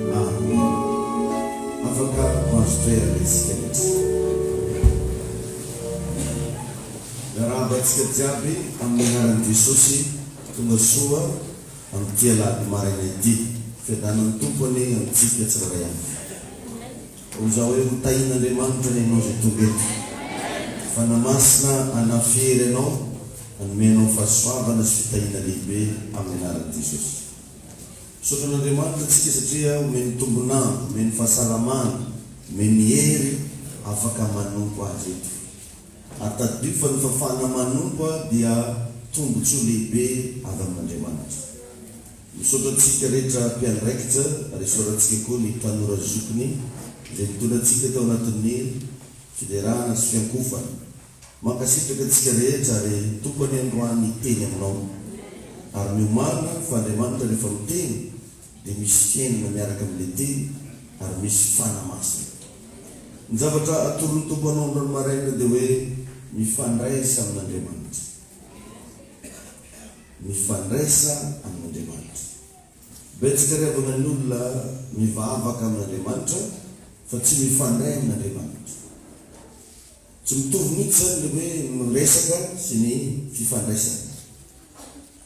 Amena. Afaka mahazo toerana isika rehetra. Miarahaba antsika jiaby amin'ny anaran'i Jesosy. Tonga soa amin'ity alahady maraina ity. Fiadanan'ny Tompo anie amintsika tsirairay avy. Hoy za hoe ho tahin'Andriamanitra anie ianao izay tonga eto. Fanahy Masina hanafy hery anao, hanome anao fahasoavana sy fitahiana lehibe amin'ny anaran'i Jesosy. Misaotra an'Andriamanitra tsika satria omeny tombon'andro, omeny fahasalamana, omeny hery afaka manompo Azy eto. Ary tadidio fa ny fafana manompo dia tombotsoa lehibe avy amin'Andriamanitra. Misaotra tsika rehetra mpiandraikitra ary isaorantsika koa ny tanora zokiny izay nitondra antsika tao anatin'ny fiderana sy fiankofana. Mankasitraka antsika rehetra ary Tompo anie androany hiteny aminao ary ny omaly fa Andriamanitra rehefa miteny dia misy fiainana miaraka amin'ilay teny ary misy fanamasina ny zavatra atoron'ny Tompo anao androany maraina dia hoe mifandraisa amin'Andriamanitra mifandraisa amin'Andriamanitra betsaka ry havana ny olona mivavaka amin'Andriamanitra fa tsy mifandray amin'Andriamanitra. Tsy mitovy mihitsy izany ny hoe miresaka sy ny fifandraisana.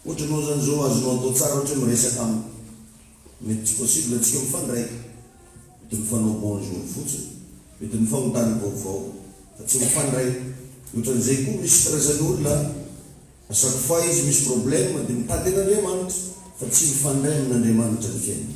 Ohatra ianao izany izao azonao atao tsara ohatra hoe miresaka amiko. Mety tsy possible antsika mifandray. Mety mifanao bonjour fotsiny. Mety mifanontany vaovao fa tsy mifandray. Ohatran'izay koa misy stress ny olona a. À chaque fois izy misy problème dia mitady an'Andriamanitra fa tsy mifandray amin'Andriamanitra ny fiainany.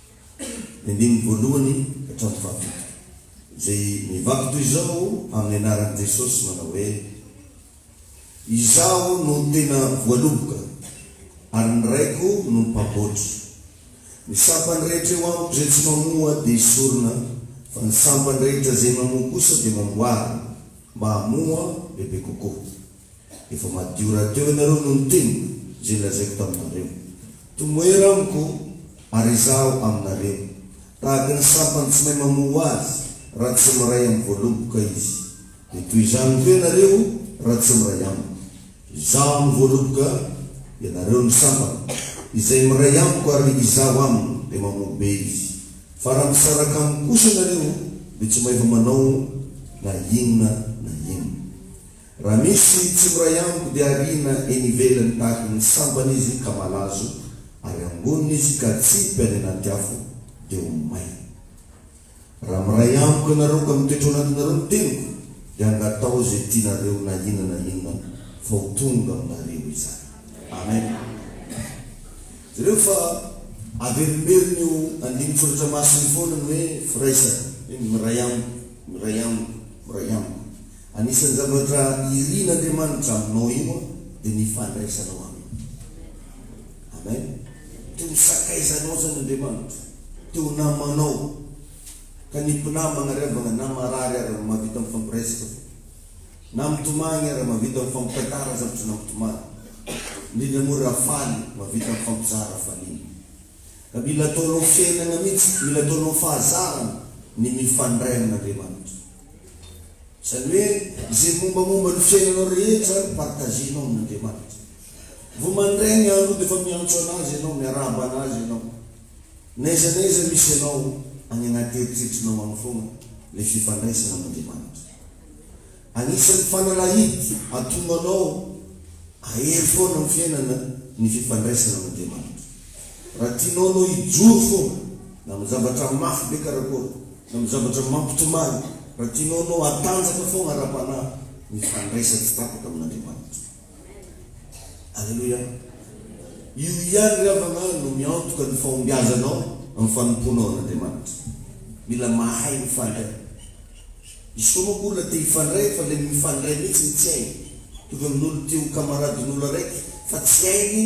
ny andininy voalohany hatramin'ny fahafito, izay mivaky toy izao amin'ny anaran'i Jesosy manao hoe, Izaho no tena voaloboka, ary ny Raiko no mpamboatra. Ny sampany rehetra eo amiko izay tsy mamoa dia esorina, fa ny sampany rehetra izay mamoa kosa dia mamboarina, mba hamoa bebe kokoa. Efa madio rahateo ianareo no niteny izay nolazaiko taminareo. Tomoera amiko ary izaho aminareo. Tahaka ny sampany tsy mahay mamoa azy raha tsy miray amin'ny voaloboka izy, dia toy izany koa ianareo raha tsy miray amiko. Izaho no voaloboka, ianareo ny sampana. Izay miray amiko ary izaho aminy dia mamoa be izy. Fa raha misaraka amiko kosa ianareo, dia tsy mba efa manao na inona na inona. Raha misy tsy miray amiko dia ariana eny ivelany tahaka ny sambany izy ka malazo ary angonina izy ka atsipy any anaty afo dia ho may. Raha miray amiko ianareo ka mitoetra ao anatinareo ny teniko dia angatao izay tianareo na inona na inona fa ho tonga aminareo izany. Amen. Jereo fa averimberin'ny io andinin-tsoratra masina io foana ny hoe firaisana, hoe miray amiko, miray amiko, miray amiko. Anisan'ny zavatra irin'Andriamanitra aminao io dia ny fandraisanao Aminy. Amen. Te ho sakaizanao izany Andriamanitra. Te ho namanao. Ka ny mpinamana ary havana na marary ary mahavita mifampiresaka fo. Na mitomany ary mahavita mifampitantara zavatra na mitomany. Indrindra moa raha faly, mahavita mifampizara hafaliana. Mila ataonao fiainana mihitsy, mila ataonao fahazarana ny mifandray amin'Andriamanitra. Izany hoe izay mombamomba ny fiainanao rehetra partager-nao amin'Andriamanitra. Vao mandray ny andro dia efa miantso an'Azy ianao, miarahaba an'Azy ianao. N'aiza n'aiza misy anao, any anaty eritreritrinao any foana ilay fifandraisana amin'Andriamanitra. Anisan'ny fanalahidy atombo anao ahery foana amin'ny fiainana ny fifandraisana amin'Andriamanitra. Raha tianao anao hijoro foana na amin'ny zavatra mafy be karakôry na amin'ny zavatra mampitomany, raha tianao anao hatanjaka foana ara-panahy, mifandray sady tsy tapaka amin'Andriamanitra. Aleloia! Io ihany ry havana no miantoka ny fahombiazanao amin'ny fanompoanao an'Andriamanitra. Mila mahay mifandray. Misy koa manko olona te hifandray fa ilay mifandray mihitsy no tsy hainy. Tonga amin'olo te ho kamaradin'olo araiky fa tsy hainy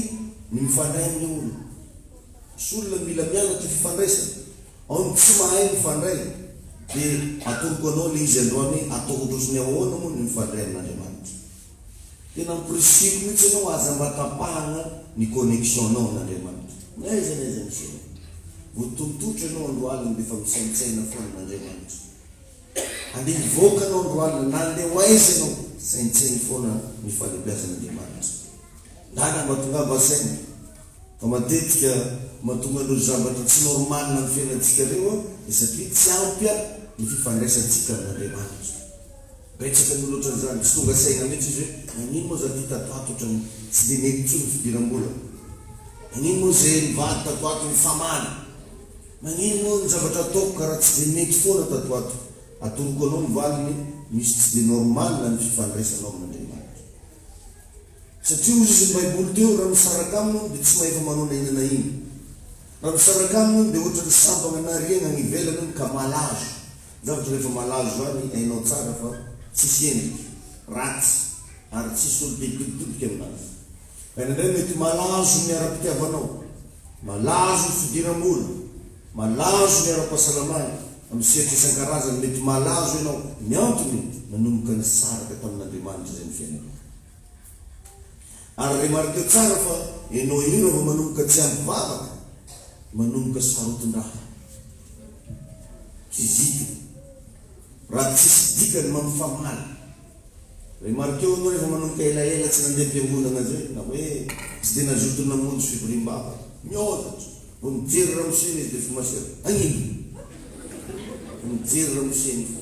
ny mifandray amin'ilay olona. Misy olona mila mianatra fifandraisana. Ao ny tsy mahay mifandray. Dia atoroko anao ilay izy androany hoe atao ohatrohatry ny ahoana moa ny mifandray amin'Andriamanitra. Tena amporisihiko mihitsy ianao aza mba tapahana ny connexion nao n'Andriamanitra. N'aiza n'aiza misy anao. Voatontotra ianao androalina dia efa misaintsaina foana n'Andriamanitra. Andeha hivoaka ianao androalina na andeha ho aiza ianao saintsaino foana ny fahalebiazan'Andriamanitra. Ndana mba tongava saina fa matetika mahatonga an'ireo zavatra tsy normal amin'ny fiainantsika ireo dia satria tsy ampy ny fifandraisantsika amin'Andriamanitra. Betsaka moa loatra an'izany, tsy tonga saina mihitsy izy hoe nagnino moa za ty tato ato otrany tsy de mety tsony fidirambola, nagnino moa ze nivady tato ato nifamaly, nagnino moa ny zavatra ataoko kara tsy de mety foana tato ato, atoroko anao ny valiny, misy tsy de normal ny fifandraisanao amin'Andriamanitra. Satria hoy izy ny baiboly teo raha misaraka aminy olo de tsy mahefa manao na ina na ina, raha misaraka aminy olo de otrany sampagna na riagna agny ivelany olo ka malazo, Zavatra rehefa malazo izany hainao tsara fa tsisy endrika ratsy ary tsisy olo te hitoditodika aminazy. Ka ny anay mety malazo ny ara-pitiavanao, malazo ny fidiram-bola, malazo ny ara-pahasalamana, amin'ny sehatra isan-karazany mety malazo ianao. Ny antony nanomboka nisaraka tamin'Andriamanitra izay ny fiainanao. Ary remarqueo tsara fa enao io raha vao manomboka tsy ampy vavaka, manomboka sarotin-draha. Kizito, raha tsisy dikany mampifamaly. Remarqueo enao rehefa manomboka elaela tsy nandeha am-piangonana zay, na hoe tsy dia nazoto namonjy fivoriam-bavaka. Miodatra. Vao mijery ramosena izy dia fo masera. Hagnino? Vao mijery ramosena izy.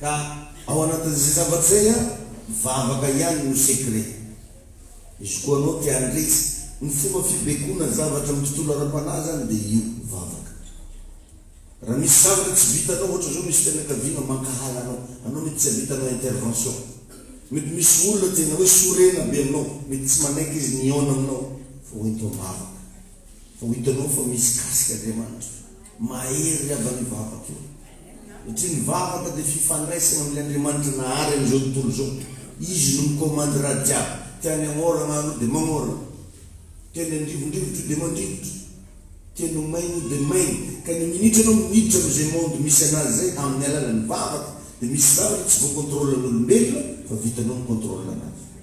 Ka ao anatin'izay zavatra izay an, vavaka ihany no secret. Izy koa anao te handresy ny fomba fibaikoana zavatra amin'ny tontolo ara-panahy izany dia io, vavaka. Raha misy zavatra tsy vitanao, ohatra izao misy fianakaviana mankahala anao, anao mety tsy havitanao intervention. Mety misy olona tena hoe sorena be aminao, mety tsy manaiky izy ny hihaona aminao, fa hoento am-bavaka. Vao hitanao fa misy kasika Andriamanitra, mahery avy any vavaka io. Satria ny vavaka dia fifandraisana amin'ny Andriamanitra nahary an'izao tontolo izao. Izy no mikomandy raha jiaby. Tiany hagnoragna anao dia magnoragna. Tiany handrivondrivotra io dia mandrivotra. Tiany ho maigny io dia maigny. Ka ny minitra anao miditra amin'izay monde misy anazy izay amin'ny alalan'ny vavaka dia misy zavatra tsy voa-contrôle an'olombelona fa vitanao mi-contrôle anazy.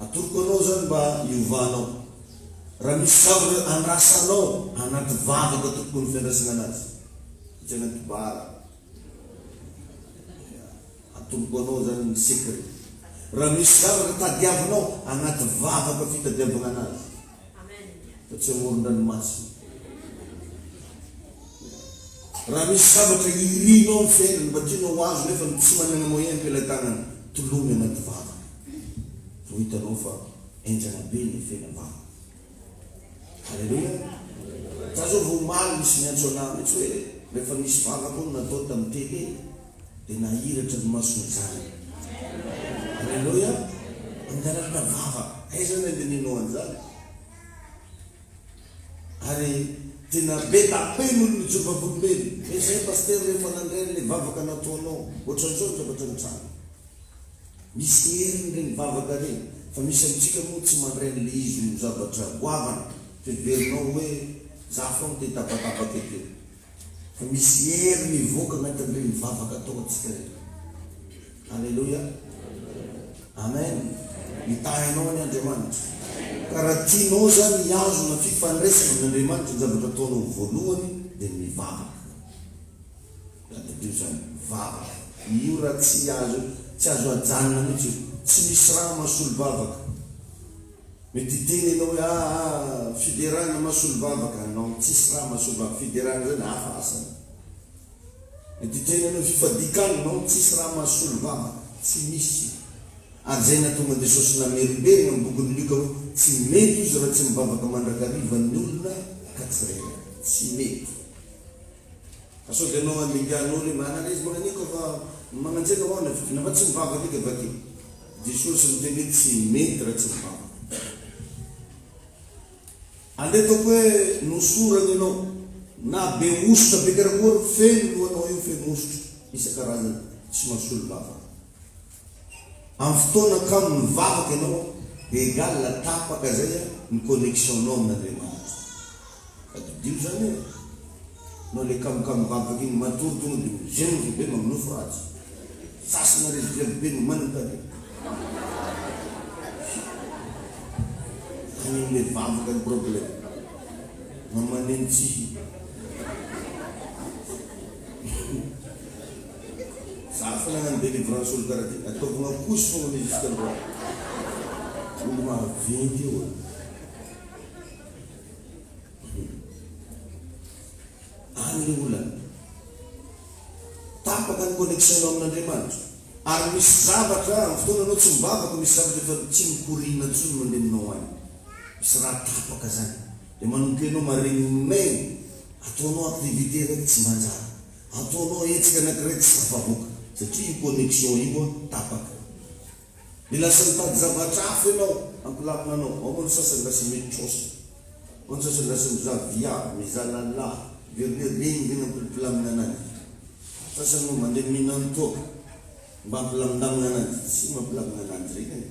Atoroko anao izany mba hiovanao. Raha misy zavatra andrasanao anaty vavaka tokony fiandrasana anazy. Tsy anaty bara. Atoroko anao izany ny secret. Raha misy zavatra tadiavinao anaty vavaka fitadiavana anazy. fa tsy amoron-dranomasina. Raha misy zavatra irinao amin'ny fiainana mba tianao ho azo nefa ny tsy manana moyen am-pela tanana, tolomy anaty vavaka vao hitanao fa enjana be ny efena vavaka. Aleloia! Za zao vao omaly nisy niantso anah mitsy hoe rehefa misy vavaka hono natao tamin'ny télé, dia nahiratra ny mason'ny zanany. Aleloia! Nangalatra vava, aiza ny andinihana an'izany? Ary tena be da be ny olona jono vavolombelona, hoe izay Pasitera rehefa nandray an'ilay vavaka nataonao, ohatran'izao ny zavatra nitranga. Misy ny heriny ireny vavaka ireny, fa misy amintsika moa tsy mandray an'ilay izy ho zavatra goavana, fa heverinao hoe za foana te hitabataba kely kely. Fa misy hery mivoaka anatin'ireny vavaka ataontsika ireny. Aleloia. Amen. Mitahy anao anie Andriamanitra. Ka raha tianao izany hihazona fifandraisana amin'Andriamanitra, ny zavatra ataonao voalohany dia mivavaka. Tadidio izany, vavaka. Io raha tsy azo, tsy azo ajanona mihitsy io. Tsy misy raha mahasolo vavaka. Mety hiteny ianao hoe ah ah ah fiderana mahasolom-bava ka non tsisy raha mahasolom-bava fiderana zany hafa asany. Mety hiteny ianao hoe fifadikan non tsisy raha mahasolom-vava tsy misy ary zay nahatonga an'i Jesosy namerimberina amin'ny bokin'i Lioka hoe tsy mety izy raha tsy mivavaka mandrakariva ny olona ka tsirairay. Tsy mety. Fa sao de anao andinganao le manana izy magnan'io ka fa magnanjena ho'a le vidiana fa tsy mivavaka edy avake. Jesosy niteny hoe tsy mety ra tsy mivavaka. Andeha ataoko hoe nosorana ianao na be hosotra be karakory feno lohanao io feno hosotra isan-karazany tsy mahasolo vavaka. Amin'ny fotoana kamo nivavaka ianao dia egal tapaka zay ny connexion nao amin'Andriamanitra. Tadidio zany e! Nao le kamokamo vavaka iny matory tonga de mizengry be maminofy ratsy. Sasana rezy grevy be no manam-pady. Any amle vavaka ny problème. Mamaneno tsihy. Zafy lahy any delivrance olo karaha ty ataovy makozy fogna mi jusque androany. Olo maventy io e. Humm. Any le olana. Tapaka ny connexion nao amin'Andriamanitra. Ary misy zavatra am fotoana anao tsy mivavaka misy zavatra efa tsy mikoriana tsony mandeha aminao any. Misy raha tapaka zany. De manompe anao maregny maigny. Ataonao activité raiky tsy manjary. Ataonao hetsika anankiray tsy tafavoaka satria io connexion io tapaka. Dia lasa mitady zavatra hafa ianao hampilamina anao. Ao ny sasany lasa mitrosa. Ao ny sasany lasa mizaha viavy, mizaha lahilahy. Very re regny regny ampilamina ananjy. Sasany moa mandeha mihinan-toaka mba hampilaminamina ananjy. Tsy mampilamina ananjy regny e.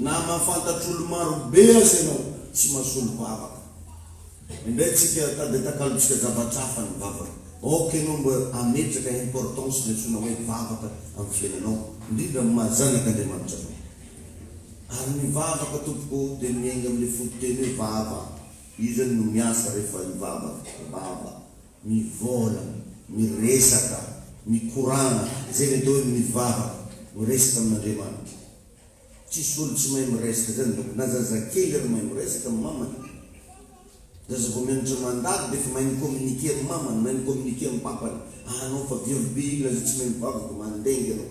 Na mahafantatr'olo-marobe aza ianao, tsy mahasolom-bavaka. Indray tsika tady atakalontsika zavatra hafa ny vavaka. Aoka ianao mba hametraka importance ny antsoina hoe vavaka amin'ny fiainanao, indrindra amin'ny maha zanak'Andriamanitra anao. Ary ny vavaka tompoko o, dia miainga amin'ilay fototeny hoe vava. Io izany no miasa rehefa hivavaka. Vava. Mivolagna, miresaka, mikoragna, zay le atao hoe mivavaka, miresaka amin'Andriamanitra. Tsisy olo tsy mahay miresaka zany donc na zazakely ary mahay miresaka am mamany. Zaza vao mianatra mandalo defa mahay mi-communiquer am mamany, mahay mi-communiquer am papany, ah anao fa viavy be io lazao tsy mahay mivavaka, mandengy anao.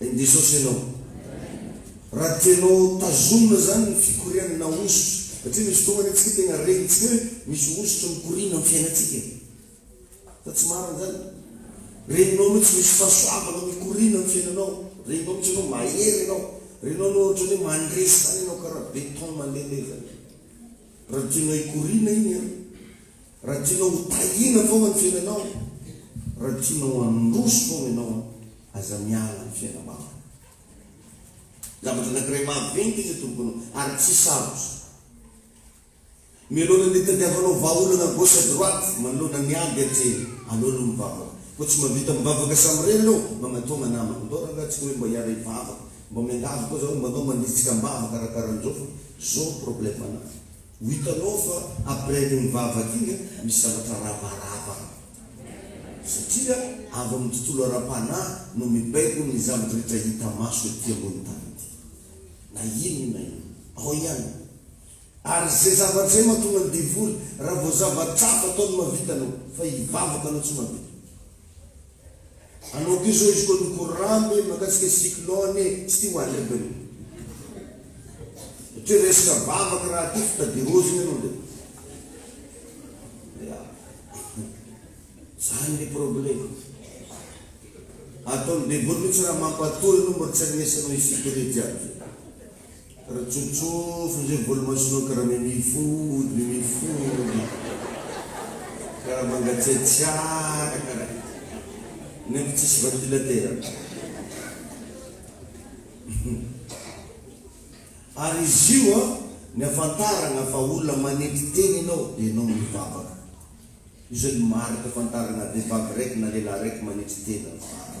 Amen Jesosy Ianao. Raha tianao tazomina izany ny fikoriana na hosotra, satria misy fotoana anie tsika tena renitsika hoe misy hosotra mikoriana amin'ny fiainantsika e. Fa tsy marina izany. Reninao mihitsy misy fahasoavana mikoriana amin'ny fiainanao. Reninao mihitsy ianao mahery ianao. Reninao ianao ohatran'ny hoe mandresy izany ianao karaha beton malemy izany. Raha tianao hikoriana iny an! Raha tianao ho tahiana foana ny fiainanao an! Raha tianao handroso foana ianao an! Aza miala amin'ny fiainam-bavaka. Zavatra anankiray maventy izy atoroko anao ary tsy sarotra. Mialohan'ny hitadiavanao vahaolana gauche et droite, manoloana ny ady aty, aleo aloha mivavaka. Koa tsy mahavita mivavaka samirery ianao, magnatogna namana. Ndao rangahy, tsy ka hoe mba hiara-hivavaka. Mba miangavy koa zaho mba anao manditsika ambava karakarahan'izao fa zao ny problème anah. Ho hitanao fa après an'io mivavaka iny misy zavatra ravarava any. Satria avy amin'ny tontolo ara-panahy no mibaiko ny zavatra rehetra hita maso ety ambony tany ety. Na inona na inona. Ao ihany. Ary izay zavatra izay mahatonga ny devoly raha vao zava-tsarotra ataony mahavita anao. Fa hivavaka anao tsy mahavita. Anao koa izao izy koa loko rambo e, mahakasika cyclone e, tsy tia ho arimbiny. Satria resaka vavaka raha tia fitadirozina ianao dia ya. Zany ny problema. Ataon'ny baiboly mihitsy raha mampatory anao mba tsy arenesanao isika ireto jiaby izao. Ratsofotsof ny zay volomasonao karaha mimi food mimi food karaha mangatsiatsiaka karaha nefa tsisy ventilateur ary izy io an ny afantaragna fa olona manetry tena enao de enao mivavaka io zany marika afantaragna vevavy raiky na lelah raiky manetry tena mivavaka.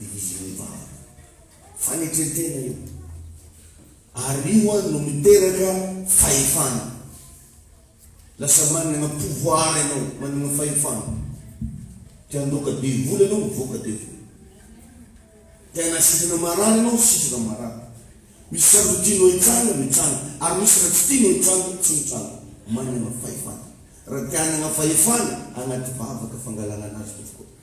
Division Ivaly. Fanetrentena io. Ary io ho'a no miteraka fahefana. Lasa managna pouvoir ianao, managna fahefana. Te handoaka be vola ianao, mivoaka be vola. Te hanasitrana marary ianao, sitrana marary. Misy sandry tianao hitsanga, mitsanga. Ary misy raha tsy tianao hitsanga, tsy mitsanga. Managna fahefana. Raha te hanagna fahefana, agnaty vavaka fangalagnana azy tompoko.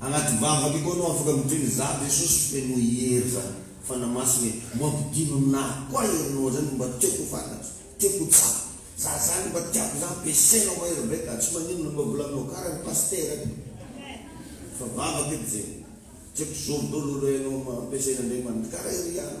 Anaty vavaka io koa no afaka mitriny zah Jesosy feno hery zah Fanahy Masina e mbo ampidino aminahy koa herinao zay no mba tiako ho fantatro tiako ho tsapa zah zany mba tiako zah ampiasainao mahery be ka tsy maninona mba volaninao kara ny pasitera eto fa vavaka eto zegny tiako zoro dolo aloha enao ampiasain'Andriamanitra kara ery ihany.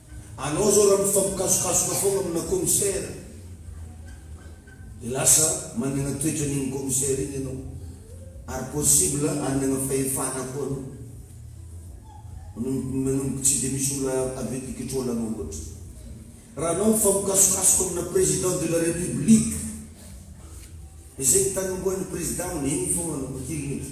Anao zao raha mifampikasokasoka foana amina commissaire de lasa manana toetra an'iny commissaire iny ianao ary possible hanana fahefana koa anao manomboka manomboka tsy de misy olona avy ety control anao loatra raha anao mifampikasokasoka amina president de la republique de zay ny tanombohan'ny president amin'iny foana no matilina eto.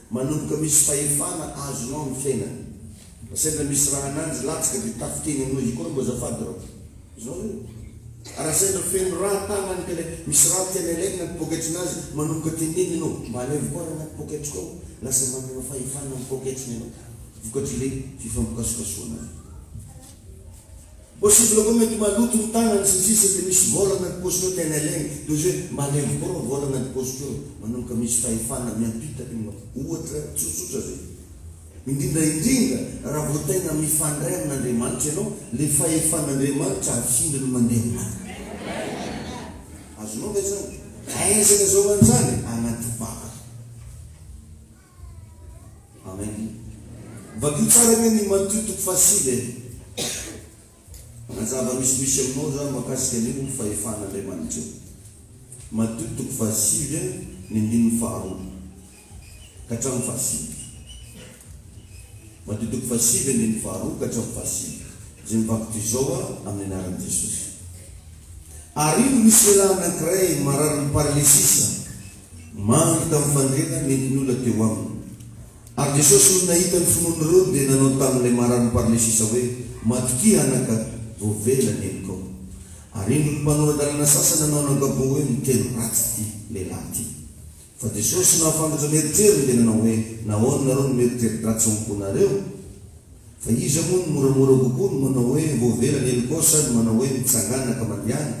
Manomboka misy fahefana azonao ny fiainana. Sendra misy raha ananjy latsaka dia tafik'eny aminao izy koa, mba azafady raha toa izao ve? Raha sendra feno rà tanany ka ilay misy rà tiany alaina anaty poketrinazy, manomboka tenenina ianao, mba alaivo koa rà anaty poketriko ao, lasa manana fahefana amin'ny poketriny ianao, vokatr'ilay fifampikasokasohana avy eo. Possible koa mety maloto ny tagnany sy ny sisa de misy vôla agnaty paosy koa tiany alegny de ozy hoe malemy koa rô vôla agnaty paosy ko rô manomboka misy fahefana miampita io manko ohatra tsotsotra zay indrindra indrindra raha vao tegna mifandray amin'Andriamanitra ianao le fahefan'Andriamanitra afindra no mandeha aminao azonao ve zany aizana zao manjary agnaty vava. Amen. Vakio tsara anie ny Matio toko fahasivy e. Manazava ny misimisy aminao zany makasika ny ho fahefan'Andriamanitra. Matio toko fahasivy a, ny andininy faharoa ka hatramin'ny fahasivy. Matio toko fahasivy andininy faharoa ka hatramin'ny fahasivy. Izay mivaky toy izao a, amin'ny anaran'i Jesosy. Ary indro nisy lehilahy anankiray mararin'ny paralesisa. Maro hita mifandrena mety ny olona teo aminy. Ary Jesosy nony nahita ny finoany ireo dia nanao tamin'ilay marary ny parlesisa hoe, Matokia anaka, voavela ny henokao. Ary indro ny mpanora-dalana sasany nanao an'ankapobe hoe, Miteny ratsy ity lehilahy ity. Fa Jesosy nahafantatra ny eritreriny dia nanao hoe, Nahoana nareo no mieritreri-dratsy ao am-ponareo? Fa iza moa no moramora kokoa, ny manao hoe, Voavela ny henokao sa ny manao hoe, Mitsangàna ka mandehana?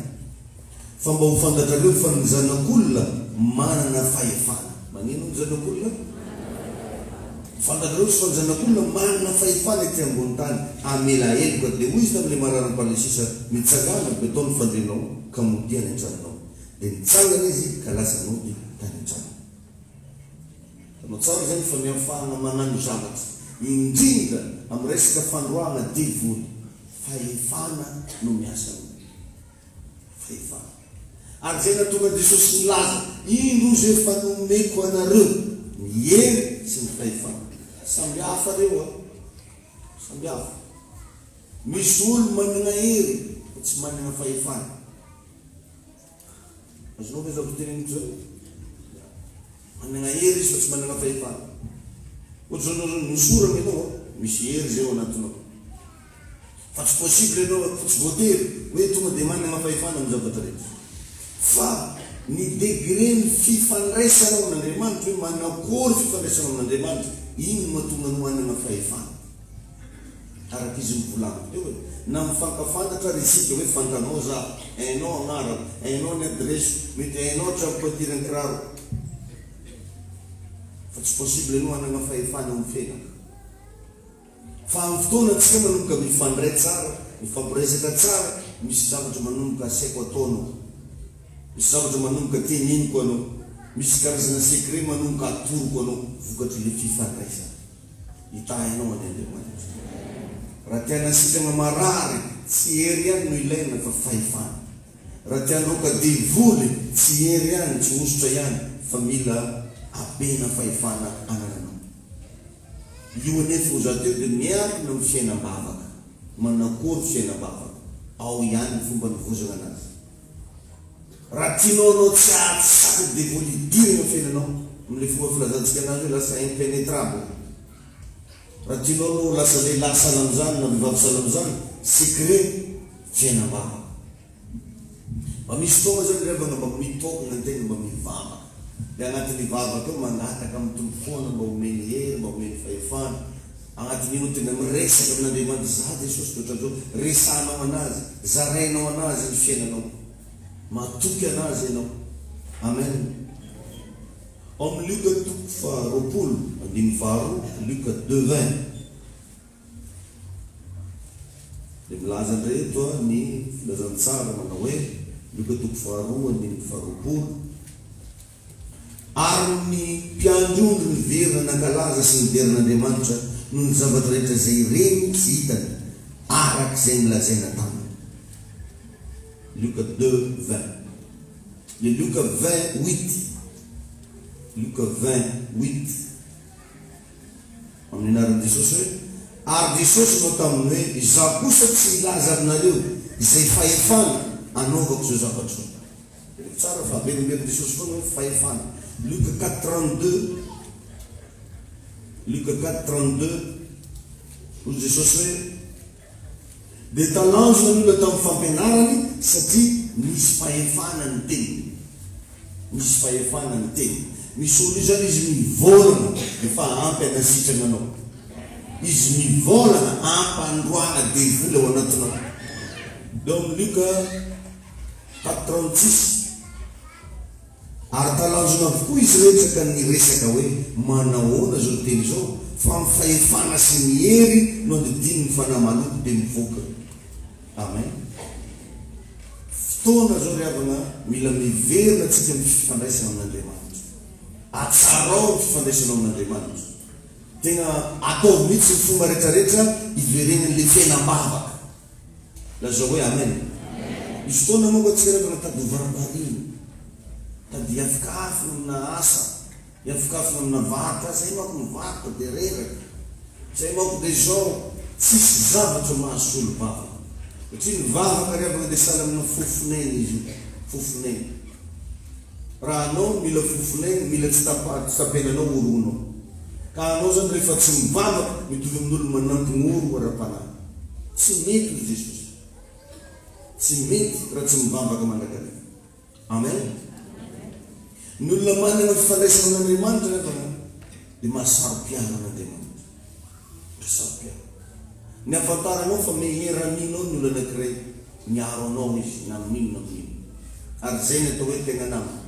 Fa mba ho fantatrareo fa ny Zanak'Olona manana fahefana. Maninona ny Zanak'Olona? Fantatrareo fa ny Zanak'Olona manana fahefana ety ambony tany hamela heloka. Dia hoy Izy tamin'ilay mararin'i Parlisiusa, Mitsangàna avy eto ny fandrianao, ka modia any an-tranonao. Dia nitsangana izy ka lasa nody tany an-tranony. Hitanao tsara izany fa ny hafahana manano zavatra, indrindra amin'ny resaka fandroahana devoly, fahefana no miasa aminy. Vehivavy. Ary izay nahatonga an'i Jesosy nilaza, Indro ozy efa nomeko anareo ny hery sy ny fahefana. Samby hafa ireo an! Samby hafa. Misy olo manana hery fa tsy manana fahefana. Azonao ve izao teneniko izao? Manana hery izy fa tsy manana fahefana. Ohatr'izao ianao izao, nosorana ianao an! Misy hery izay ao anatinao. Fa tsy possible ianao a, tsy voatery hoe tonga dia manana fahefana amin'ny zavatra rehetra. Fa ny degren'ny fifandraisanao amin'Andriamanitra, hoe manakory fifandraisanao amin'Andriamanitra, iny no mahatonga anao hanana fahefana. Araka izy novolaniko teo e, na mifankafantatra ary isika hoe fantanao za, hainao agnarako, hainao ny adiresiko, mety hainao hatramin'ny pointure ny kiraroko. Fa tsy possible ianao hanana fahefana amin'ny fenaka. Fa amin'ny fotoana antsika manomboka mifandray tsara, mifampiresaka tsara, misy zavatra manomboka asaiko ataonao, misy zavatra manomboka teneniko anao, misy karazana secret manomboka atoroko anao vokatr'ilay fifandraisana. Hitahainao an' Andriamanitra. Raha te hanasitrana marary, tsy hery ihany no ilaina fa fahefana. Raha te handroaka devoly, tsy hery ihany, tsy hosotra ihany fa mila abena fahefana anananao. Io anefa ozato io dia miankina amin'ny fiainam-bavaka, manakory fiainam-bavaka, ao ihany ny fomba anovozana anazy. Raha tianao anao tsy hahazo sac de vol hidirana eo fiainanao, amin'ilay fomba filazantsika anazy hoe lasa impenetrable, raha tianao anao ho lasa lehilahy salan'izany na vehivavy salan'izany, secret, fiainam-bavaka. Mba misy fotoana izany rehfa nga mba mitogna antegna mba mivavaka de agnatin'ny vavaka eo mangataka amin'ny Tompo foana mba homeny hery mba homeny fahefana agnaty minute de miresaka amin'Andriamanitra za Jesosy de otran'izao resahanao anazy zarainao anazy ny fiainanao matoky anazy enao Amen ao amin'ny Lioka toko faha roapolo andininy faha roa Lioka deux vingt. Dia milaza indray eto ny Filazantsara manao hoe, Lioka toko faharoa andininy faharoapolo, Ary ny mpiandry ondry niverina nankalaza sy nidery an'Andriamanitra noho ny zavatra rehetra izay ireny tsy hitany, araka izay nolazaina taminy. Lioka deux, vingt. Dia Lioka vingt, huit. Lioka vingt, huit. Amin'ny anaran'i Jesosy hoe. Ary Jesosy nanao taminy hoe, Izaho kosa tsy hilaza aminareo izay fahefana anaovako izao zavatra izao. Jereo tsara fa averimbery Jesosy foana hoe fahefana. Luc quatre trente deux, Luc quatre trente deux, Hoy Jesosy hoe, dia talanjona ny olona tamin'ny fampianarany satria nisy fahefana ny teniny. Nisy fahefana ny teniny. Misy olona izany izy mivolana efa ampy anasitrana anao. Izy mivolana ampandroana devoly ao anatinao. Dom Luka, tap trente six. Ary talanjona avokoa izy iretsy ka niresaka hoe, Manahoana izao ny teny izao? Fa amin'ny fahefana sy ny hery no andidiany ny fanahy maloto dia mivoaka. Amen. Fotoana izao ry havana an, mila miverina tsika amin'ny fifandraisana amin'Andriamanitra. Atsarao ny fifandraisanao amin'Andriamanitra. Tena ataovy mihitsy ny fomba rehetra rehetra hiverenan'ilay fiainam-bavaka. Lazao hoe Amen. Misy fotoana manko antsika rehefa mitady ho varaham-bahiny, mitady hiafikafina amina asa, hiafikafina amina varotra, ah zay manko ny varotra dia reraka, zay manko dia izao, tsisy zavatra mahasolo vavaka, satria ny vavaka rehefa mandeha sahala amina fofon'aina izy io, fofon'aina. Raha anao no mila fofonay no mila tsitapenanao horohonao. Ka anao zany rehefa tsy mivavaka mitovy amin'olo manampy ny oro ara-panahy. Tsy mety hoy Jesosy. Tsy mety raha tsy mivavaka mandrakariva. Amen. Ny olona manana fifandraisana amin'Andriamanitra anefa dia mahasaro-piaro an'Andriamanitra. Mpisampy ahy. Ny ahafantaranao fa meheraninao ny olona anankiray, miaro anao izy na amin'inona na amin'inona. Ary izay ny atao hoe tegna namana.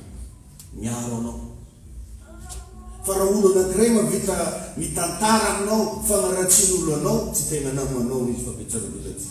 Miaro anao. Fa raha olona anankiray mahavita mitantara aminao fagnaratsian'olona anao, tsy tegna namanao izy fa be tsarabola tsy.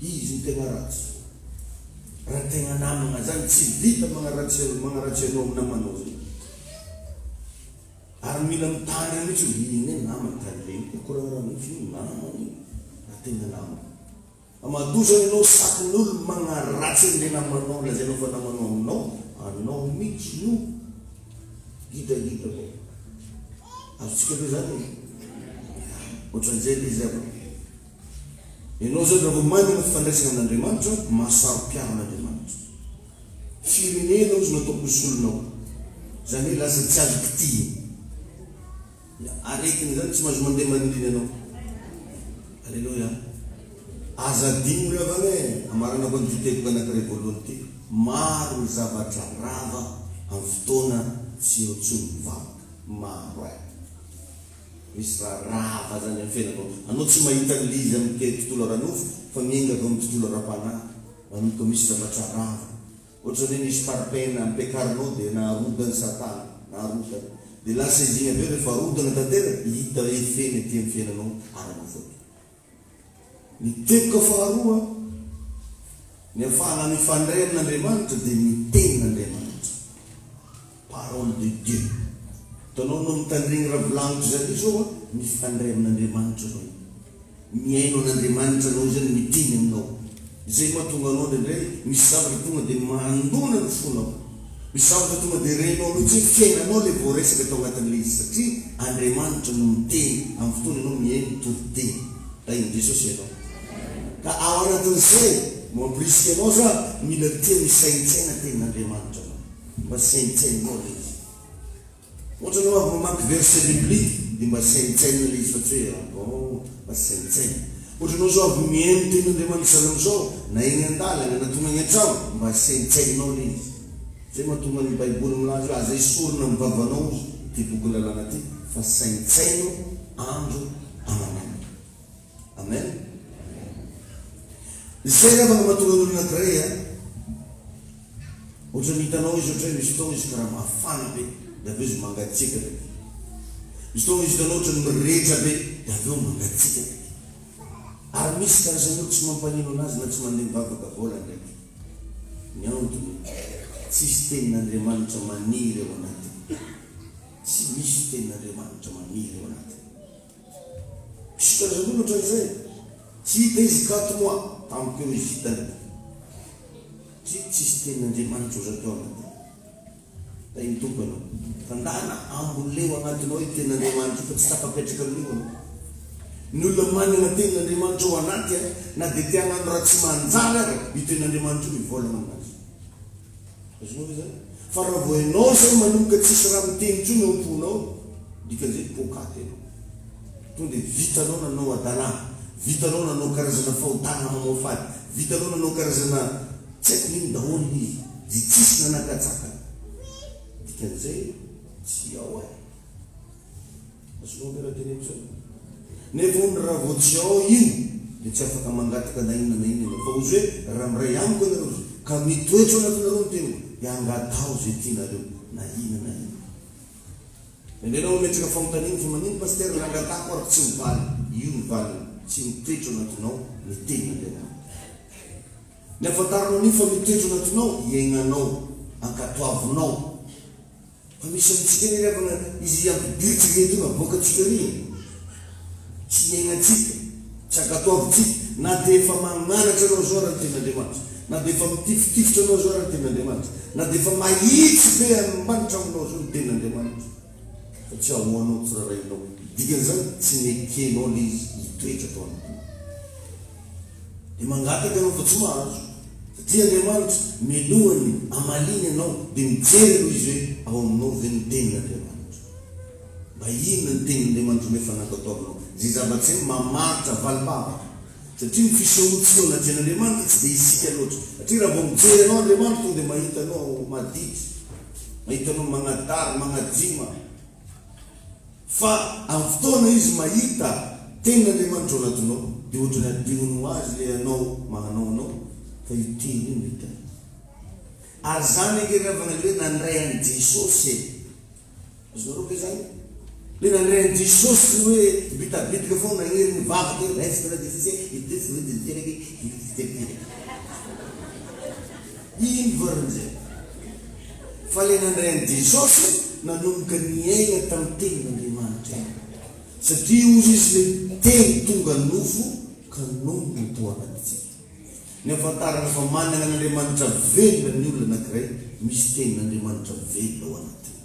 Izy no tegna ratsy fô raha tegna namagna zany tsy vita magnaratsy magnaratsy anao amin'ny namanao zay ary mila mitandrina mitsy hoe ino ne namany tany regny ko ko raha raha misy ino namany raha tegna namagna fa matoa zany anao satin'olo magnaratsy anle namanao lazainao fa namanao aminao anao mitsy no gidagida vao azontsika aloha zany e, ohatran'izay le izy zany. Ianao izao rehefa manana fifandraisana amin'Andriamanitra, mahasaro-piaro an'Andriamanitra. Firenena hozy no ataoko ho solonao. Izany hoe lasa tsy azo kitihina. Dia aretina izany tsy mahazo mandeha maninona ianao. Aleloia. Aza adino ry havana e! Amaranako an'ity teboka anankiray voalohany ity, maro ny zavatra rava amin'ny fotoana tsy eo intsony ny vavaka. Maro eh! Misy raharaha avadiny amin'ny fiainanao. Anao tsy mahita ny liza amin'ny tontolo ara-nofo fa miainga avy amin'ny tontolo ara-panahy. Manomboka misy zavatra rava. Ohatra ny hoe misy parpaing ampiakarinao dia naharodany satana. Naharodany. Dia lasa izy iny avy eo rehefa arodana tanteraka, hita hoe feno ety amin'ny fiainanao ara-nofo ety. Ny teboka faharoa, ny hafahana mifandray amin' Andriamanitra dia ny Tenin' Andriamanitra, Parole de Dieu. Hitanao no mitandregny raha volagniko zare zao a, mifandray amin' Andriamanitra anao, mihaino an' Andriamanitra anao izany, miteny aminao. Izay mahatonga anao indraindray misy zavatra tonga dia mandona ny fonao. Misy zavatra tonga dia renao mihitsy hoe fiainanao ilay voaresaka tao anatin'ilay izy satria Andriamanitra no miteny amin'ny fotoana ianao mihaino toriteny. Tahin'i Jesosy ianao. Ka ao anatin'izay, mamporisika anao za, mila tia misaintsaina tenin'Andriamanitra anao. Mba saintsainao ilay izy. Ohatrany hoa vao mamaky verset biblique dia mba saintsainina ilay izy fa tsy hoe ah bon fa tsy saintsaina. Ohatrany hoa zao avy mihaino tenin'Andriamanitra izany amin'izao na eny an-dalana na tonga any an-trano mba saintsaininao ilay izy. Izay mahatonga ny baiboly milaza hoe aza esorina amin'ny vavanao ity boky lalàna ity fa saintsaino andro aman'alina. Amen. Izay ny afaka mahatonga ny olona grey an. Ohatran'ny hitanao izy ohatran'ny hoe misy fotoana izy karaha mafana be dia avy eo izy mangatsiaka be. Misy fotoana izy hitanao ohatran'ny mirehitra be dia avy eo mangatsiaka be. Ary misy karazan'ny olona tsy mampanino anazy na tsy mandeha mivavaka vola ndraiky. Ny antony, tsisy tenin'Andriamanitra maniry ao anatiny. Tsy misy tenin'Andriamanitra maniry ao anatiny. Mpisotra-dranomatra izay, tsy dia izy kato moa tamiko eo hivitany. Tiko tsy hisy tenin' Andriamanitra oza teo aman-dia. Hay ny Tompo ianao. Tandahana ambony leo agnatiny ao i tenin' Andriamanitra io fa tsy tafapetraka amin' io anao. Ny olona manin' ny tenin' Andriamanitra ao anaty, na dia te hagnano raha tsy manjary ary, io tenin' Andriamanitra io mivolagna aminazy. Azonao ve izany? Fa raha vao ianao izao manomboka tsy hisy raha miteny intsony ao am-ponao, dikan'izay poakaty ianao. Tonga dia vitanao nanao hadalà, vitanao nanao karazana fahotana mamoafady, vitanao nanao karazana tsy haiko inona daholo ny izy, dia tsisy nanakatsakana. Dikan'izay tsy ao eh! Tsy voampera teny intsony. Nefa hono raha vao tsy ao io dia tsy afaka mangataka na inona na inona ianao. Fa ozy hoe raha miray amiko ianareo ozy ka mitoetra ao anatinareo ny teniko dia angataho izay tianareo na inona na inona. Enao no metraka fanontaniana fa manino Pasitera raha angatahako ary tsy mivaly. Io ny valiny, tsy mitoetra ao anatinao ny tenin'Andriamanitra. Ny ahafantaranao an'io fa mitoetra ao anatinao, iaignanao, ankatoavinao. Anisantsika ny havana izy ry ampidiritsika ireto no avoakantsika ry e! Tsy hiaignantsika, tsy agatoavintsika, na dia efa magnanatra anao izao ary ny Tenin'Andriamanitra, na dia efa mitifitifitra anao izao ary ny Tenin'Andriamanitra, na dia efa mahitsy be any ambany tragnonao izao ny Tenin'Andriamanitra, fa tsy ahoanao, tsy rarahinao. Dikan'izany, tsy nekenao ilay izy hitoetra tao anatiny. Dia mangataka ianao fa tsy mahazo. Dia Andriamanitra minoa ny hamaliany anao, dia mijery aloha Izy hoe ao aminao ve ny tenin'Andriamanitra. Mba inona ny tenin'Andriamanitra no efa natao tao aminao. Izay zava-tsy hay mamaritra valim-bavaka. Satria ny fisehoantsika eo anatrehan'Andriamanitra tsy dia isika loatra. Satria raha vao mijery anao Andriamanitra tonga dia mahita anao madity. Mahita anao magnadary, magnajioma. Fa amin'ny fotoana izy mahita tenin'Andriamanitra oradonao dia ohatry ny adihony ho azy ilay anao mahanao anao fa io teny io no hitany. Ary izany ange ry havana ilay hoe nandray an'i Jesosy e! Azonareo ve izany? Ilay nandray an'i Jesosy ny hoe bitabitika foana nagnery ny vavaka hoe raiso nareo dia tsy tia ahy, ity tsy hoe dia ny tenako hoe ity tsy tia ahy. Iny variny izay. Fale nandray an'i Jesosy nanomboka niaina tamin'ny Tenin'Andriamanitra iny, satria hozy Izy le Teny tonga nofo ka nonina nitohanantsika. Ny ahafantarana fa manana an'Andriamanitra velona ny olona anakiray misy Tenin'Andriamanitra velona ao anatiny.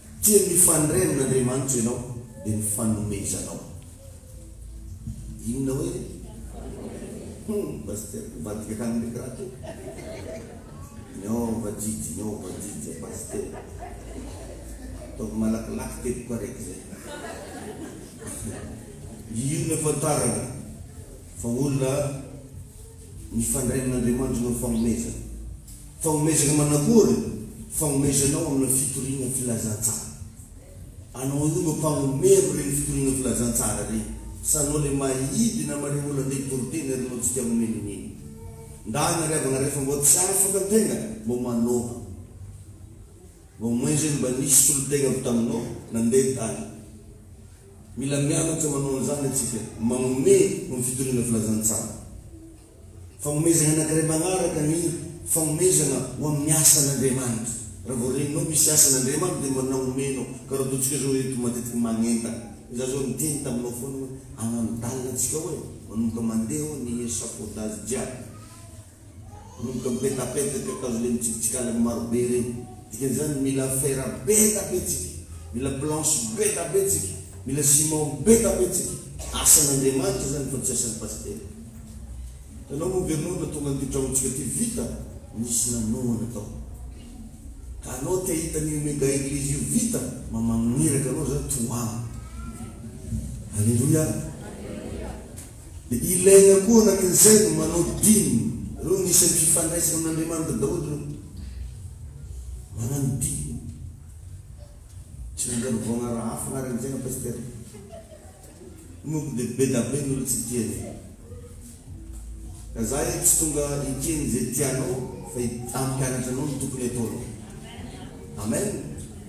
Dia mifandray amin'Andriamanitra ianao dia ny fanomezanao inona hoe hum pasteur mivadika hanomeko raha toa ny ao vadidy ny ao vadidy zay pasteur ataovy malakilaky teboka raiky zay io no afantarana Fa olona mifandray amin' Andriamanitra no fagnomezana. Fagnomezana manakory? Fagnomezanao amin' ny fitoriana filazantsara. Anao io no mpagnomero ireny fitoriana filazantsara ireny, sa anao ilay mahidy namareo olona andeha hitory teny ary anao tsy tia nomeny ny mino? Ndana ry havana rehefa mbô tsy afaka ny tegna mbô manohana. Mbô moin zany mba nisy solon-tegna avy taminao nandeha tany. Mila mianatra manao an'izany antsika, manome ho ny fitoriana filazantsara. Fagnomezana anankiray magnaraka ny fagnomezana ho amin'ny asan'Andriamanitra. Raha vao reninao misy asan'Andriamanitra dia manao omenao. Ka raha ataontsika izao ireto matetika magnentana. Izaho izao niteny taminao foana hoe anandalina antsika ao e, manomboka mandeha ao ny echafaudage jiaby. Ronono ka betapetsa ka tazo le mitsipitsikala ny maro be reny dikany zany mila fer betapetsika mila planche betapetsika mila ciment betapetsika asan Andriamanitra zany fa tsy asan pasitera hitanao moa ve anao na tonga anty tragnontsika ty vita nisy nanohana tao ka anao te hahita anio mega eglise io vita ma magniraka anao zany tohano aleloia. Dia ilaina koa anankin'izay ny manody diny. Ireo no isan'ny fifandraisana amin'Andriamanitra daholo ireo. Manano diny. Tsy nandalo vao hanarahafo anareo amin'izay anao Pasitera. Io manko dia be da be ny olona tsy tia an'io. Ka za eto tsy tonga hikeny izay tianao fa hampianatra anao ny tokony hataonao. Amen.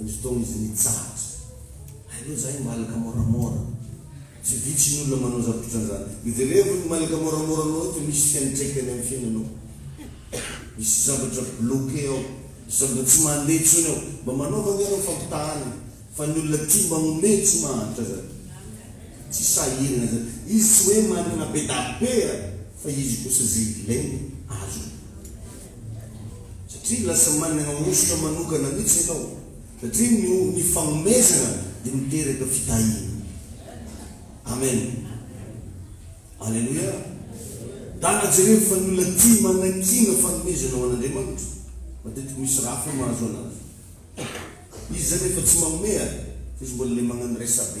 Ny fotoana izy nitsahatra. Hay aloha zahay malaka moramora. Tsy vitsy ny olona manao zavatra otran'izany. Miverevo ny malaka moramora anao eo fa misy fiantraikany amin'ny fiainanao. Misy zavatra bloqué ao. Misy zavatra tsy mandeha intsony ao. Mba manaova anie ianao fampitahana e. Fa ny olona tia mba omeo tsy mahantra zany. Tsy sahirana zany. Izy tsy hoe manana be dabe a! Fa izy kosa ze ilainy azony. Satria lasa manana hosotra manokana mihitsy ianao satria ny ny fagnomezana dia miteraka fitahiana. Amen. Aleloia. Tana jereo fa ny olona tia manakiana fagnomezana ho an'Andriamanitra. Matetiky misy raha fo mahazo anazy. Izy zany efa tsy magnomea fa izy mbola le magnano resa-be.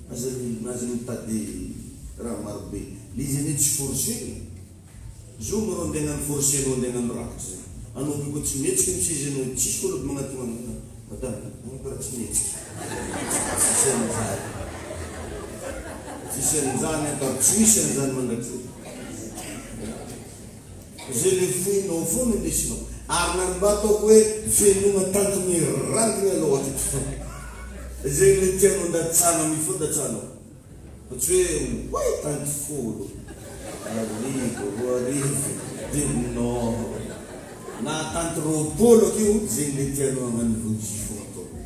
Aza aza mitady raha maro be le izy anie tsy forcer e! Zao maro andeha agnano forcer anao andeha agnano rakitra zay anao be koa tsy mihetsiky ny seza anao tsisy kolody magnatona anao madame a! anao karaha tsy mihetsiky tsisy an'izany tsisy an'izany an! ka ro tsy misy an'izany mandrakizay! Izay ilay fohinao ao foana ilay isinao. Ary na ny mba ataoko hoe fenoina tanty mirangina ilay ao atreto foana. Izay ilay tianao ndatsahana mifoha ndatsahanao. Fa tsy hoe oay tanty folo, arivo, roa arivo, dimy non. Na tanty roapolo aky io, izay ilay tianao hagnano voji foana ataonao.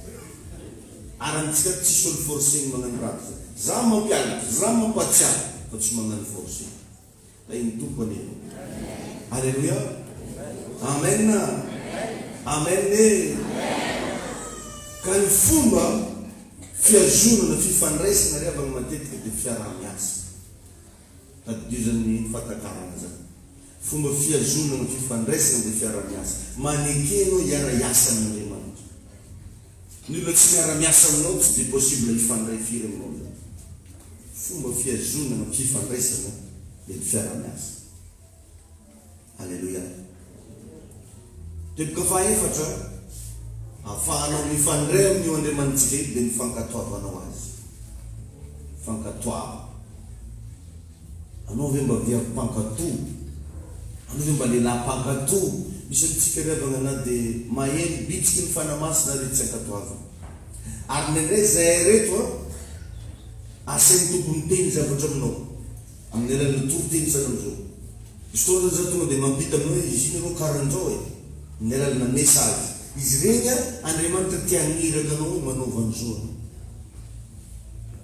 Ary amintsika ato tsisy olo forcena magnano ratsy. Za mampianatra, za mampatsiahy fa tsy magnano forcena. Rain'ny Tompo anie ianao. Aleloia. Amen. Amen e. Ka ny fomba fihazonana fifandraisana ry havana matetika dia fiaraha-miasa. Tadidio izany fahatakarana izany. Fomba fihazonana fifandraisana dia fiaraha-miasa. Maneke ianao hiara-hiasa amin'Andriamanitra. Ny olona tsy miara miasa aminao tsy dia possible hifandray firy aminao zany. Fomba fihazonana fifandraisana le ny fiaraha miasa. Aleloia. Teboka faha efatra afahanao mifandray amin io Andriamanitsika io dia ny fankatoavanao azy. Fankatoava. Anao ve mba vehivavy mpankato? Anao ve mba lehilahy mpankato? Misy amintsika ry havana na dia maheno bitsiky ny Fanahy Masina ary tsy ankatoavina. Ary indraindray izahay ireto an, asain'ny Tompo miteny zavatra aminao amin'ny alalan'ny toriteny sahala amin'izao. Misy fotoana zany za tonga dia mampita aminao hoe izy iny aloha karan'izao e! amin'ny alalanà message. Izy ireny an, Andriamanitra te hagniraka anao hoe manaova an'izao anao.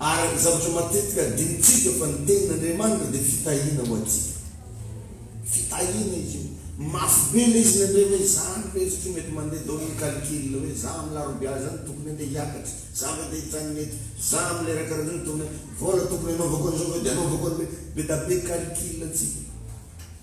Ary zavatra matetika adinontsika fa ny tenin'Andriamanitra dia fitahiana ho antsika. Fitahiana izy io. Mafy be ilay izy nandre hoe izany ve satria mety mandeha daholo ny calcul hoe izaho amin'ny larobia izany tokony handeha hiakatra, izaho ve te hijanona eto, izaho amin'ny lera karaha izany tokony, vôla tokony anaovako an'izao ve dia anaovako an'ilay, be da be calcul antsika.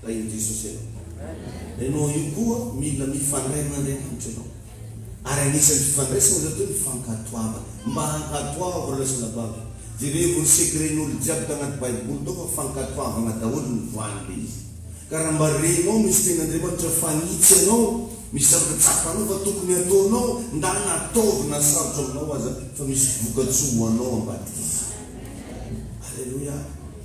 Tahin'i Jesosy ianao. Ianao io koa mila mifandray amin' Andriamanitra ianao. Ary anisan'ny fifandraisana izao dia ny fankatoavana. Mba ankatoavo ry lahy sy lahy-bato. Jerevo ny secret-n'olo jiaby tagnaty baiboly tao fa fankatoavana daholo ny voany le izy. Ka raha mba renao misy tenin'Andriamanitra fagnitsy anao, misy zavatra tsapanao fa tokony ataonao, ndana ataovy na sarotra aminao aza fa misy vokatsoa ho anao ambadik'izany. Aleloia.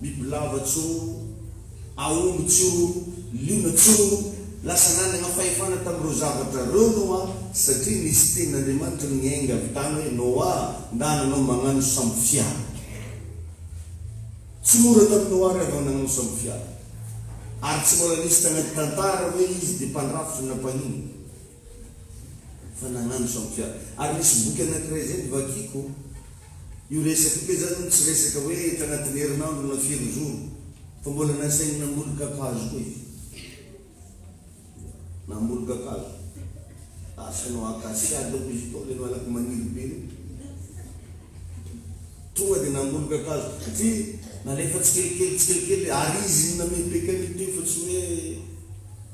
Bibilava tsoa, aomby tsoa, liona tsoa, lasa nanana fahefana tamin'ireo zavatra ireo Noa, satria nisy tenin'Andriamanitra niainga avy tany hoe, Noa, ndà nanao mañano sambofiara. Tsy mora tamin'i Noa àry vao nañano sambofiara, ary tsy mbola nisy tanaty tantara hoe izy dia mpandrafitra na mpahiny. Fa nagnano sao tsia. Ary misy boky anakiray izay novakiko, io resaka io, kay zany hono tsy resaka hoe tagnatin'ny herinandro na firy jour, fa mbola nasainy namboly kakazo koa izy. Namboly kakazo. Asa anao acacia dônko izy io, ilay malaky maniry be io. Tonga dia namboly kakazo, satria nalefa tsikelikely tsikelikely, ary izy no namepeka an'io teo fa tsy hoe.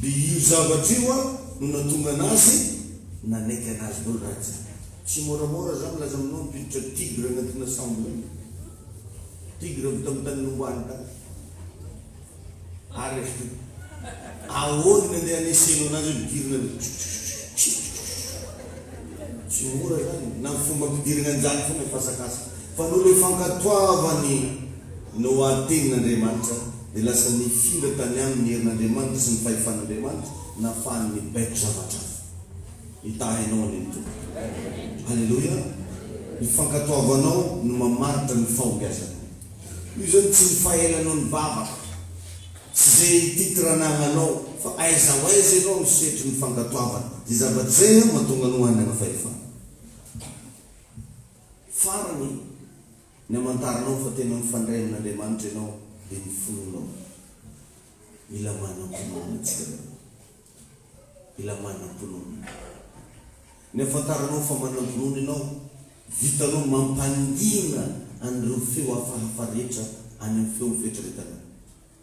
Dia io zavatra io no nahatonga anazy nanaiky anazy dolo raha tsy zany. Tsy moramora za milaza aminao mpiditra tigre agnatina sambo reny. Tigre avy tam tany nombany tany. Ary avy teo. Ahoana ny andeha aneseno anazy eo midirina aloha tschitschitschitsch. Tsy mora zany na fomba ampidiragna anjara fona ny fasakasaka. Fa noho le fankatoavany. Noa teny n'Andriamanitra, dia lasa nifindra tany aminy ny herin'Andriamanitra sy ny fahefan'Andriamanitra, nafahany nibaiko zavatra hafa. Hitahy anao anie ny Tompo. Aleloia! Ny fankatoavanao no mamaritra ny fahombiazanao. Io izany tsy ny fahelanao nivavaka, tsy ze titre anagnanao, fa aiza ho aiza ianao no setry ny fankatoavana. Izay zavatra izay no mahatonga anao hanana fahefana. Farany, Ny hamantaranao fa tena mifandray amin'Andriamanitra ianao dia ny finoanao. Mila manam-pinoana antsika daholo. Mila manam-pinoana. Ny hafantaranao fa manam-pinoana ianao, vitanao mampangina an'ireo feo hafahafa rehetra any amin'ny feon'ny fieritreretanao.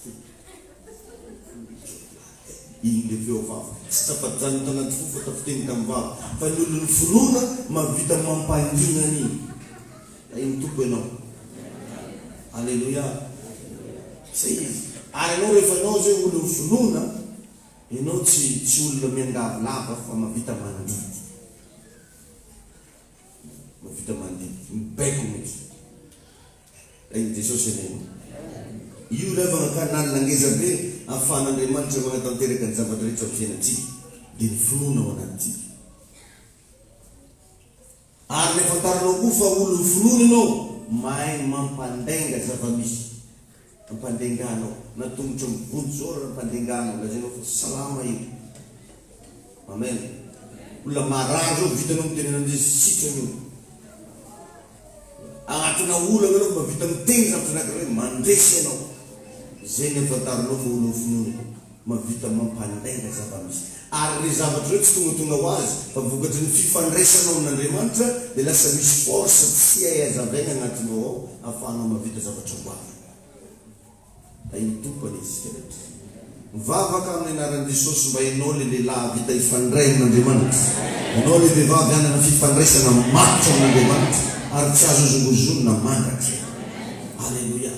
Fo. Iny le feo vava tsy tafajanona tanaty fo fa tafiteny tamin'ny vava fa ny olon'ny finoana mahavita mampangina an'iny. Tahin'ny Tompo ianao. Aleloia. Zay izy. Ary ianao rehefa ianao zay olon'ny finoana, ianao tsy tsy olona miangavy lava fa mahavita mandidy. Mahavita mandidy. Mibaiko mihitsy. Ain'i Jesosy anie o! Io ilay vangankanalina ngeza be ahafahan'Andriamanitra manatanteraka ny zavatra rehetra amin'ny fiainantsika, dia ny finoana ao anatintsika. Ary ilay fantarinao koa fa olon'ny finoana ianao, mahay mampandainga zava-misy. Ampandenganao na tongotro am bonjour ampandenganao lazainao fa salama e amen olona marary zao vitanao mitenena amizay sitrana io agnatina olana anao mba vita miteny zavatra anakiray mandresy anao zay ny afantaranao fa olona finoana. Mahavita mampandainga zava-misy. Ary ireo zavatra ireo tsy tonga tonga ho azy, fa vokatry ny fifandraisanao amin'Andriamanitra, dia lasa misy force tsy hay hazavaina anatinao ao, ahafahanao mahavita zavatra ho avy. Tahin'ny Tompo anie isika rehetra. Mivavaka amin'ny anaran'i Jesosy mba ianao ilay lehilahy hahavita hifandray amin'Andriamanitra, ianao ilay vehivavy hanana fifandraisana matotra amin'Andriamanitra ary tsy azo hozongozonina mandrakizay. Aleloia.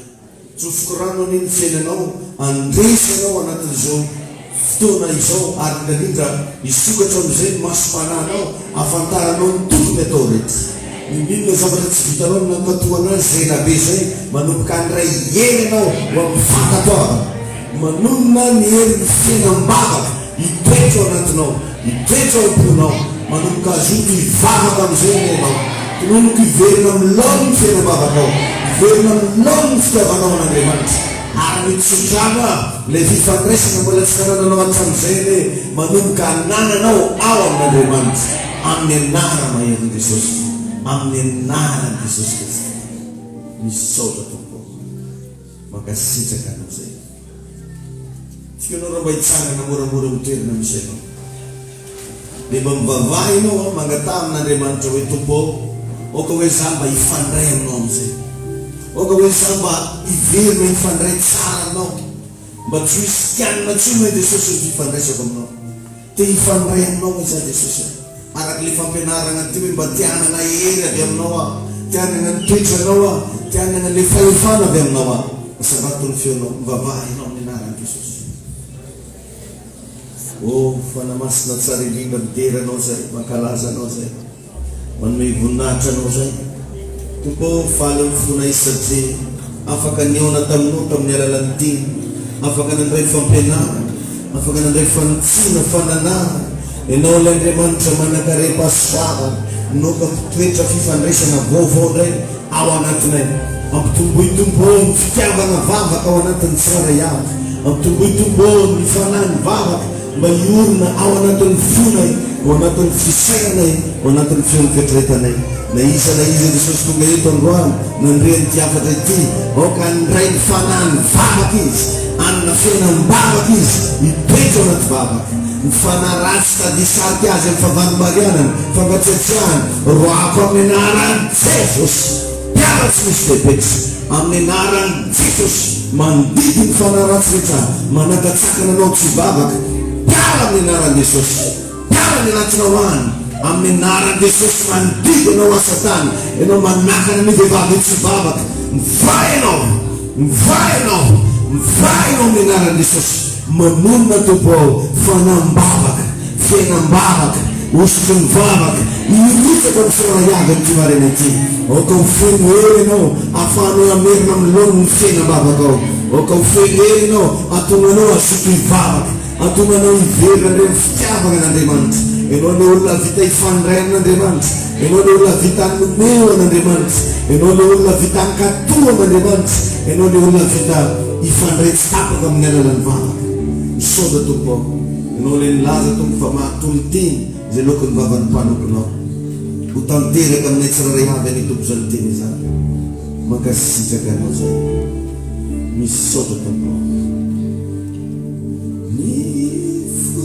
Tsofoky rano anie ny fiainanao, andresy ianao anatin'izao fotoana izao ary indraindrindra hisokatra amin'izay ny masom-panahinao ahafantaranao ny tokony atao rehetra. N'inon'inona zavatra tsy vitanao no nankatò an'azy izay ela be izay, manomboka handray hery ianao ho amin'ny fankatoavana. Manonona ny herin'ny fiainam-bavaka Hitoetra ao anatinao, hitoetra ao am-ponao, manomboka hazoto hivavaka amin'izay anie ianao, tononoka hiverina amin'ny laoniny ny fiainam-bavakao, hiverina amin'ny laoniny ny fitiavanao an'Andriamanitra, ary mitso-drano avy ilay fifandraisana mbola tsy nanananao hatramin'izay anie, manomboka hanananao ao amin'Andriamanitra, amin'ny anarana maherin'i Jesosy, amin'ny anaran'i Jesosy Kristy. Misaotra Tompo ô. Mankasitraka anao zay. Tsika anao raha mba hitsangana moramora amin'ny toerana misy anao. Dia mba mivavaha ianao an, mangataha amin'Andriamanitra hoe Tompo ô, aoka hoe za mba hifandray aminao amin'izay. Aoka hoe za mba hiverina hifandray tsara aminao. Mba tsy ho hisy kianina intsony hoe Jesosy ny fifandraisako aminao. Te hifandray aminao izaho Jesosy a! Araka ilay fampianarana ty hoe mba te hanana hery avy aminao aho, te hanana ny toetranao aho, te hanana ilay fahefana avy aminao aho. Asavato ny feonao, mivavaha ianao amin'ny anaran'i Jesosy. Oh, Fanahy Masina tsara indrindra, midera anao izay, mankalaza anao izay. Manome voninahitra Anao izay. Tompo ô, faly amin'ny fonay satria afaka nihaona taminao tamin'ny alalan'ny dina, afaka nandray fampianarana, afaka nandray fanitsiana, fananahana. Ianao ilay Andriamanitra manankarem-pa sy vava, nokako toetra fifandraisana vaovao indray ao anatinay. Ampitomboy Tompo ô ny fitiavana vavaka ao anatin'ny tsirairay avy. Ampitomboy Tompo ô ny fanahy mivavaka. Mba hiorina ao anatin'ny fonay, ao anatin'ny fisainanay, ao anatin'ny feon'ny fiatretanay. Na iza na iza Jesosy tonga eto androany, nandre an'ity hafatra ity, aoka handray ny Fanahin'ny vavaka izy, hanana fena am-bavaka izy, hitoetra ao anaty vavaka. Ny fanahy ratsy tady hisarika azy amin'ny favan'ny marianany, fankatsiatsiahany, roahako amin'ny anaran'i Jesosy. mpianatry ny Sdepec amin'ny anaran'i Jesosy mandidy ny fanahy ratsy rehetra manakatsaka nanao tsy vavaka mpiara amin'ny anaran'i Jesosy mpiara ny anatona ho any amin'ny anaran'i Jesosy mandidy ianao aho satana ianao manakana ny vehivavy ho tsy vavaka mivaha ianao mivaha ianao mivaha ianao amin'ny anaran'i Jesosy Mamonina Tompo ao, fanam-bavaka, fiainam-bavaka, hosotry ny vavaka, hirotsaka ho soraha avy amin'ity maraina ity. Aoka ho feno hery Ianao, ahafahanao hamerina amin'ny laoniny ny fiainam-bavakao. Aoka ho feno hery Ianao, hahatonga anao hazoto hivavaka, hahatonga anao hiverina indray amin'ny fitiavana an'Andriamanitra. Ianao ilay olona vita hifandray amin'Andriamanitra. Ianao ilay olona vita nomeo an'Andriamanitra. Ianao ilay olona vita hankatò an'Andriamanitra. Ianao ilay olona vita hifandray tsy tapaka amin'ny alalan'ny vavaka. Misaotra Tompo ao. Ianao ilay nilaza Tompo fa mahatoy ny teny izay loako ny vavan'ny mpanompinao. Ho tanteraka aminay tsirairay avy anie Tompo izany teny izany. Mankasitraka Anao izay. Misaotra Tompo ao. Ny fo.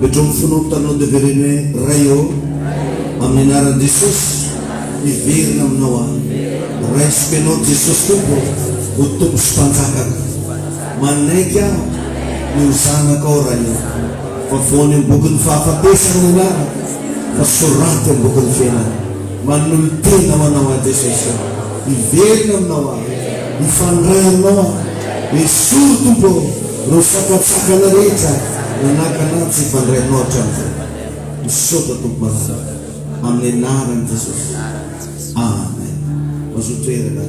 Midroa ny fonao mitanao devereno hoe, Ray ô, amin'ny anaran'i Jesosy, miverina aminao aho. Raisiko ianao Jesosy Tompo ho Tompo sy Mpanjakako. Manaiky aho ny ho zanakao Ray ô. Vavoano eo am-bokin'ny fahafatesana ny anarako fa soraty eo am-bokin'ny fiainana. Manolo-tena ho Anao aho Jesosy ô, hiverina aminao aho, hifandray aminao aho, esory Tompo ô ireo sakantsakana rehetra nanakana ahy tsy hifandray aminao hatramin'izay. Misaotra Tompo Malala, amin'ny anaran'i Jesosy, Amen. Mazotoerana.